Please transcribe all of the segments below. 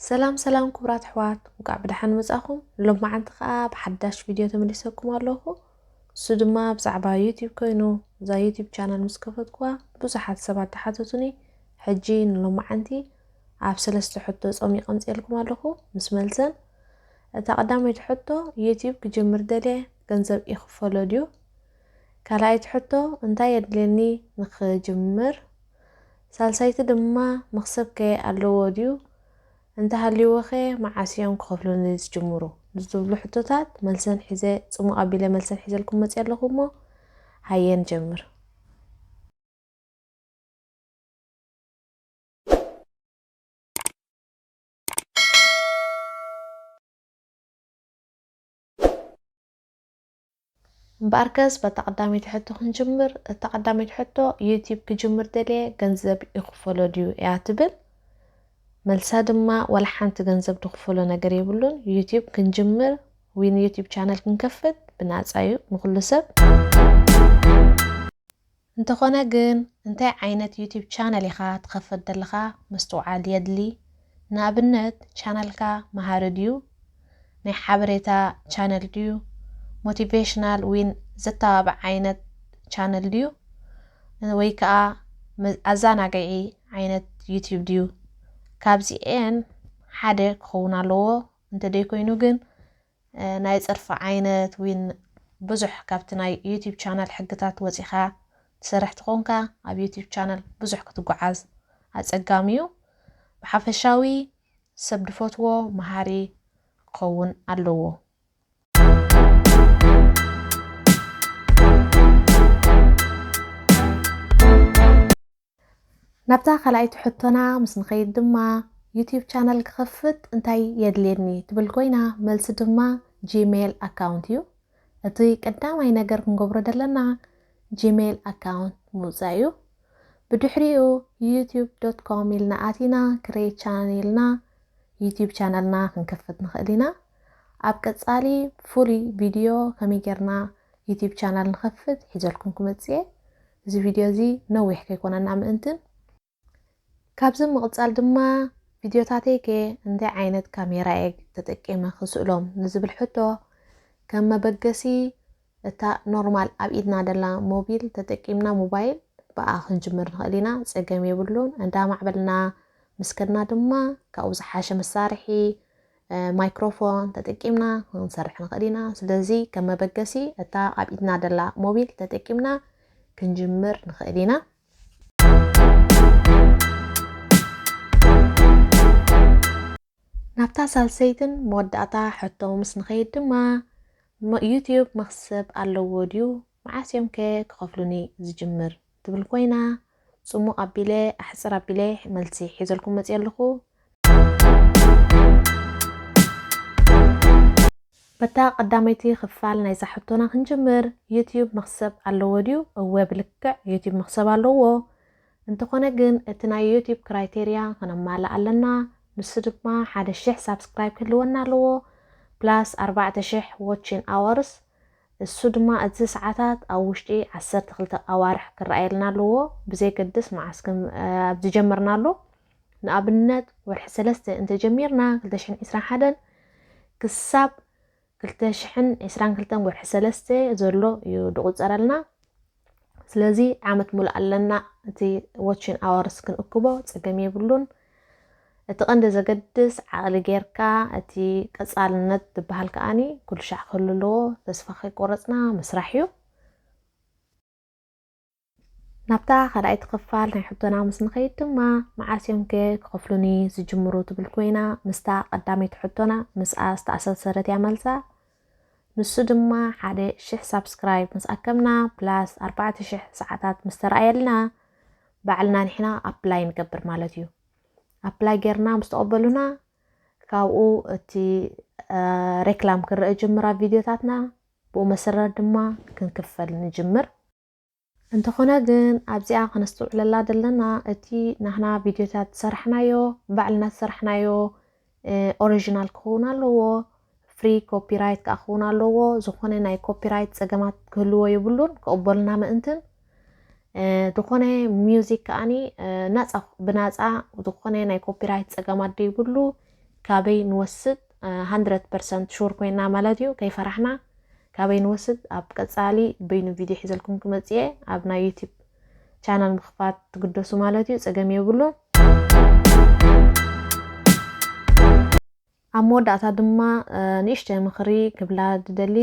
ሰላም ሰላም ክቡራት ኣሕዋት እንኳዕ ብደሓን መጻኹም ሎማዓንቲ ከዓ ብሓዳሽ ቪድዮ ተመሊሰኩም ኣለኹ እሱ ድማ ብዛዕባ ዩቲብ ኮይኑ እዛ ዩቲብ ቻናል ምስ ከፈትኩዋ ብዙሓት ሰባት ተሓተቱኒ ሕጂ ንሎማዓንቲ ኣብ ሰለስተ ሕቶ ፆሚ ቀምፅልኩም ኣለኹ ምስ መልሰን እታ ቀዳመይቲ ሕቶ ዩቲብ ክጅምር ደልየ ገንዘብ ይኽፈሎ ድዩ ካልኣይቲ ሕቶ እንታይ የድልየኒ ንኽጅምር? ሳልሳይቲ ድማ መኽሰብከ ኣለዎ ድዩ? እንተሃልይዎኸ መዓስ እዮም ክኸፍሉኒ ዝጅምሩ? ንዝብሉ ሕቶታት መልሰን ሒዘ ጽሙቕ ኣቢለ መልሰን ሒዘልኩም መጽየ ኣለኹ እሞ ሃየ ንጀምር። እምበኣርከስ በታ ቀዳመይቲ ሕቶ ክንጅምር፣ እታ ቀዳመይቲ ሕቶ ዩትዩብ ክጅምር ደልየ ገንዘብ ይኽፈሎ ድዩ እያ ትብል፣ መልሳ ድማ ዋላ ሓንቲ ገንዘብ ድኽፈሎ ነገር የብሉን፣ ዩትዩብ ክንጅምር ውይ ንዩትዩብ ቻነል ክንከፍት ብናጻ እዩ ንኹሉ ሰብ። እንተኾነ ግን እንታይ ዓይነት ዩቱብ ቻነል ኢኻ ትኸፈት ደለኻ ምስትውዓል የድሊ ንኣብነት ቻነልካ መሃሪ ድዩ ናይ ሓበሬታ ቻነል ድዩ ሞቲቬሽናል ዊን ዘተባብዕ ዓይነት ቻነል ድዩ ወይ ከኣ ኣዛናግዒ ዓይነት ዩቱብ ድዩ ካብዚኤን ሓደ ክኸውን ኣለዎ እንተደይኮይኑ ግን ናይ ጽርፊ ዓይነት ዊን ብዙሕ ካብቲ ናይ ዩቲብ ቻናል ሕግታት ወጺኻ ትሰርሕ ትኾንካ ኣብ ዩቲብ ቻናል ብዙሕ ክትጉዓዝ ኣጸጋሚ ዩ ብሓፈሻዊ ሰብ ድፈትዎ መሃሪ ክኸውን ኣለዎ። ናብታ ካልኣይቲ ሕቶና ምስ ንኸይድ ድማ ዩትዩብ ቻነል ክኸፍት እንታይ የድልየኒ ትብል ኮይና መልሲ ድማ ጂሜል ኣካውንት እዩ። እቲ ቀዳማይ ነገር ክንገብሮ ዘለና ጂሜል ኣካውንት ምውጻእ እዩ። ብድሕሪኡ ዩትዩብ ዶት ኮም ኢልና ኣቲና ክሬት ቻነል ኢልና ዩትዩብ ቻነልና ክንከፍት ንኽእል ኢና። ኣብ ቀጻሊ ፍሉይ ቪድዮ ከመይ ጌርና ዩትዩብ ቻነል ንኸፍት ሒዘልኩም ክመጽእ እየ። እዚ ቪድዮ እዚ ነዊሕ ከይኮነና ምእንቲ ካብዚ ምቕጻል ድማ ቪድዮታተይ ከ እንታይ ዓይነት ካሜራ እየ ተጠቂመ ክስእሎም ንዝብል ሕቶ ከም መበገሲ እታ ኖርማል ኣብ ኢድና ደላ ሞቢል ተጠቂምና ሞባይል ብኣ ክንጅምር ንኽእል ኢና ጸገም የብሉን እንዳማዕበልና ምስ ከድና ድማ ካብኡ ዝሓሸ መሳርሒ ማይክሮፎን ተጠቂምና ክንሰርሕ ንኽእል ኢና። ስለዚ ከም መበገሲ እታ ኣብ ኢድና ደላ ሞቢል ተጠቂምና ክንጅምር ንኽእል ኢና። ናብታ ሳልሰይትን መወዳእታ ሕቶ ምስ ንኸይድ ድማ ዩትዩብ መኽሰብ ኣለዎ ድዩ መዓስ እዮም ከ ክኸፍሉኒ ዝጅምር ትብል ኮይና ጽሙቕ ኣቢለ ኣሕጽር ኣቢለ መልሲ ሒዘልኩም መጽየ ኣለኹ። በታ ቀዳመይቲ ክፋል ናይዛ ሕቶና ክንጅምር ዩትዩብ መኽሰብ ኣለዎ ድዩ እወ ብልክዕ ዩትዩብ መኽሰብ ኣለዎ እንተኾነ ግን እቲ ናይ ዩትዩብ ክራይቴርያ ክነማልእ ኣለና ንሱ ድማ ሓደ ሽሕ ሳብስክራይብ ክህልወና ኣለዎ ፕላስ ኣርባዕተ ሽሕ ዎቺን ኣወርስ እሱ ድማ እዚ ሰዓታት ኣብ ውሽጢ ዓሰርተ ክልተ ኣዋርሕ ክረኣየልና ኣለዎ ብዘየገድስ መዓስ ከም ኣብ ዝጀመርናሉ ንኣብነት ወርሒ ሰለስተ እንተጀሚርና ክልተ ሽሕን ዕስራን ሓደን ክሳብ ክልተ ሽሕን ዕስራን ክልተን ወርሒ ሰለስተ ዘሎ እዩ ድቑፀረልና ስለዚ ዓመት ሙሉእ ኣለና እቲ ዎችን ኣወርስ ክንእክቦ ጸገም የብሉን። እቲ ቀንዲ ዘገድስ ዓቕሊ ጌርካ እቲ ቀጻልነት ዝበሃል ከኣኒ ኩሉሻዕ ክህሉ ኣለዎ ተስፋ ከይቆረጽና ምስራሕ እዩ። ናብታ ካልኣይቲ ክፋል ናይ ሕቶና ምስ ንኸይድ ድማ መዓስ እዮም ከ ክኸፍሉኒ ዝጅምሩ ትብል ኮይና ምስታ ቀዳመይቲ ሕቶና ምስኣ ዝተኣሳሰረት እያ መልሳ። ንሱ ድማ ሓደ ሽሕ ሳብስክራይብ ምስ ኣከብና ፕላስ ኣርባዕተ ሽሕ ሰዓታት ምስ ተረኣየልና ባዕልና ንሕና ኣፕላይ ንገብር ማለት እዩ ኣፕላይ ጌርና ምስ ተቐበሉና ካብኡ እቲ ሬክላም ክንረአ ጅምራ ቪድዮታትና ብኡ መሰረት ድማ ክንክፈል ንጅምር እንተኾነ ግን ኣብዚኣ ከነስትውዕለላ ዘለና እቲ ናህና ቪድዮታት ዝሰራሕናዮ ባዕልና ዝሰራሕናዮ ኦሪጂናል ክኸውን ኣለዎ ፍሪ ኮፒራይት ከዓ ክኸውን ኣለዎ ዝኾነ ናይ ኮፒራይት ፀገማት ክህልዎ የብሉን ክቕበሉና ምእንትን ዝኾነ ሚውዚክ ከዓኒ ናፃ ብናፃ ዝኾነ ናይ ኮፒራይት ፀገም ኣደይብሉ ካበይ ንወስድ ሃንድረድ ፐርሰንት ሹር ኮይና ማለት እዩ ከይፈራሕና ካበይ ንወስድ ኣብ ቀጻሊ በይኑ ቪድዮ ሒዘልኩም ክመጽእ እየ ኣብ ናይ ዩቲብ ቻናል ምኽፋት ትግደሱ ማለት እዩ ጸገም የብሉን ኣብ መወዳእታ ድማ ንእሽተይ ምኽሪ ክብላ ዝደሊ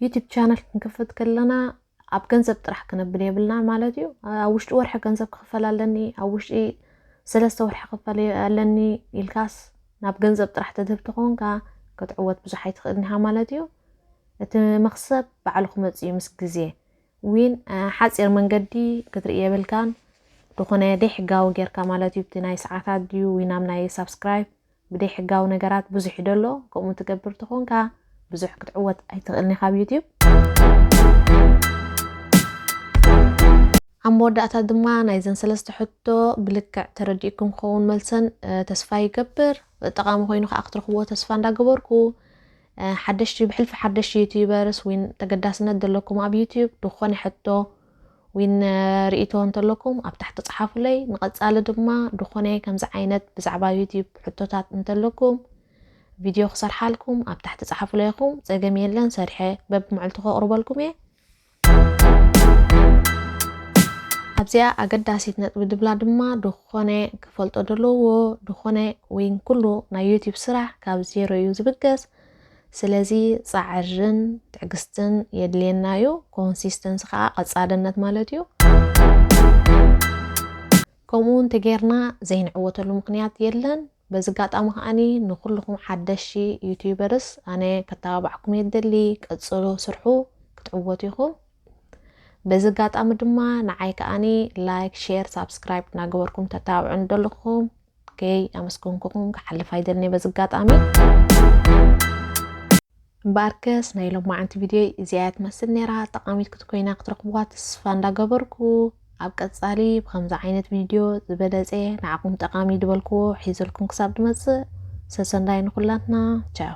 ዩቲብ ቻናል ክንክፍት ከለና ኣብ ገንዘብ ጥራሕ ክነብል የብልናን ማለት እዩ። ኣብ ውሽጢ ወርሒ ገንዘብ ክኽፈል ኣለኒ፣ ኣብ ውሽጢ ሰለስተ ወርሒ ክኽፈል ኣለኒ ኢልካስ ናብ ገንዘብ ጥራሕ ተድህብ ተኾንካ ክትዕወት ብዙሕ ኣይትኽእልን ኢኻ ማለት እዩ። እቲ መኽሰብ ባዕሉ ክመፅእ እዩ ምስ ግዜ። ዊን ሓፂር መንገዲ ክትርኢ የብልካን ድኾነ ደይሕጋዊ ጌርካ ማለት እዩ ብቲ ናይ ሰዓታት ድዩ ወይ ናብ ናይ ሳብስክራይብ ብደይ ሕጋዊ ነገራት ብዙሕ ዶ ኣሎ ከምኡ ትገብር ተኾንካ ብዙሕ ክትዕወት ኣይትኽእልን ኢኻ ኣብ ዩቱብ። ኣብ መወዳእታ ድማ ናይዘን ሰለስተ ሕቶ ብልክዕ ተረዲእኩም ክኸውን መልሰን ተስፋ ይገብር ጠቓሚ ኮይኑ ከዓ ክትረኽብዎ ተስፋ እንዳገበርኩ ሓደሽቲ ብሕልፊ ሓደሽቲ ዩትዩበርስ ወይ ተገዳስነት ዘለኩም ኣብ ዩትዩብ ዝኾነ ሕቶ ዊን ሪኢቶ እንተለኩም ኣብ ታሕቲ ጽሓፉለይ ንቀጻሊ ድማ ድኮነ ከምዚ ዓይነት ብዛዕባ ዩቲብ ሕቶታት እንተለኩም ቪድዮ ክሰርሓልኩም ኣብ ታሕቲ ጽሓፉለይ ኢኩም ጸገም የለን ሰርሐ በብመዕልቱ ከቅርበልኩም እየ ኣብዚኣ ኣገዳሲት ነጥቢ ድብላ ድማ ድኮነ ክፈልጦ ደለዎ ድኮነ ዊን ኩሉ ናይ ዩቲብ ስራሕ ካብ ዜሮ እዩ ዝብገስ ስለዚ ጻዕርን ትዕግስትን የድልየና እዩ። ኮንሲስተንሲ ከኣ ቀጻልነት ማለት እዩ። ከምኡ እውን ተጌርና ዘይንዕወተሉ ምክንያት የለን። በዚ ኣጋጣሚ ከዓኒ ንኩልኹም ሓደሽቲ ዩቲዩበርስ ኣነ ከተባባዕኩም እየ ደሊ ቀጽሎ ስርሑ ክትዕወቱ ኢኹም። በዚ ኣጋጣሚ ድማ ንዓይ ከዓኒ ላይክ፣ ሼር፣ ሳብስክራይብ እናገበርኩም ተተባብዑ ንደልኹም ከይ ኣመስገንኩኹም ክሓልፍ ኣይደልንየ በዚ ኣጋጣሚ። እምበኣርከስ ናይ ሎማዓንቲ ቪድዮይ እዚኣ እያ ትመስል ነይራ። ጠቓሚት ክትኮይና ክትረኽብዋ ተስፋ እንዳገበርኩ ኣብ ቀጻሊ ብከምዚ ዓይነት ቪድዮ ዝበለጸ ንዓኹም ጠቓሚ ዝበልክዎ ሒዘልኩም ክሳብ ድመጽእ ሰሰንዳይ ንኹላትና ቻው።